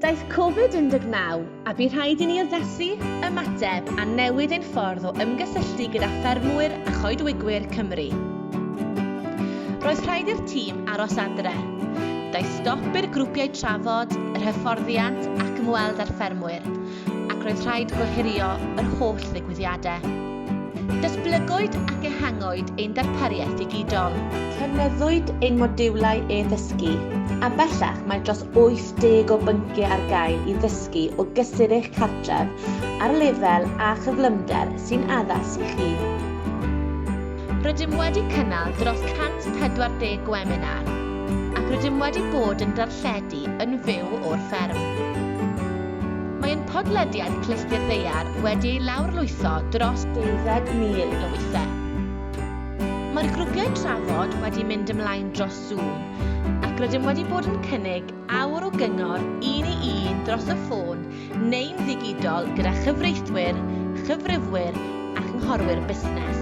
Daeth Covid-19, a bu rhaid i ni addethu, ymateb a newid ein ffordd o ymgysylltu gyda ffermwyr a choedwigwyr Cymru. Roedd rhaid i'r tîm aros adre. Daeth stop i'r grwpiau trafod, yr hyfforddiant ac ymweld â'r ffermwyr. ac roedd rhaid gohirio yr holl ddigwyddiadau. Datblygwyd ac ehangwyd ein darpariaeth ddigidol. Cynnyddwyd ein modiwlau e-ddysgu, a bellach mae dros 80 o bynciau ar gael i ddysgu o gysur eich cartref ar lefel a chyflymder sy'n addas i chi. Rydym wedi cynnal dros 140 gweminar ac rydym wedi bod yn darlledu yn fyw o'r fferm. Mae ein podlediad Clusti'r Ddaear wedi ei lawrlwytho dros 20,000 o weithiau. Mae'r grwpiau trafod wedi mynd ymlaen dros Zoom ac rydym wedi bod yn cynnig awr o gyngor un i un dros y ffôn neu'n ddigidol gyda chyfreithwyr, chyfrifwyr a chynghorwyr busnes.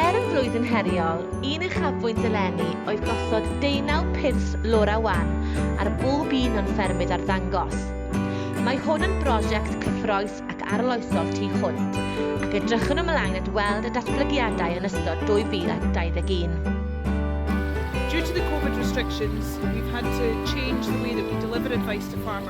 Er y flwyddyn heriol, un uchafbwynt eleni oedd gosod deunaw pyrs Laura Wan ar bob un o'n ffermydd arddangos. Mae hwn yn brosiect cyffrous ac arloesol tu hwnt, ac edrychwn ymlaen at weld y datblygiadau yn ystod 2021. Due to the Covid restrictions, we've had to change the way that we deliver advice to farmers.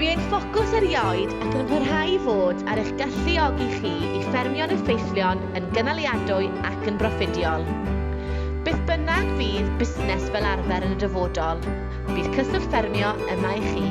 Bu ein ffocws erioed ac yn parhau i fod ar eich galluogi chi i ffermio'n effeithlon, yn gynaliadwy ac yn broffidiol. Beth bynnag fydd busnes fel arfer yn y dyfodol, bydd Cyswllt Ffermio yma i chi.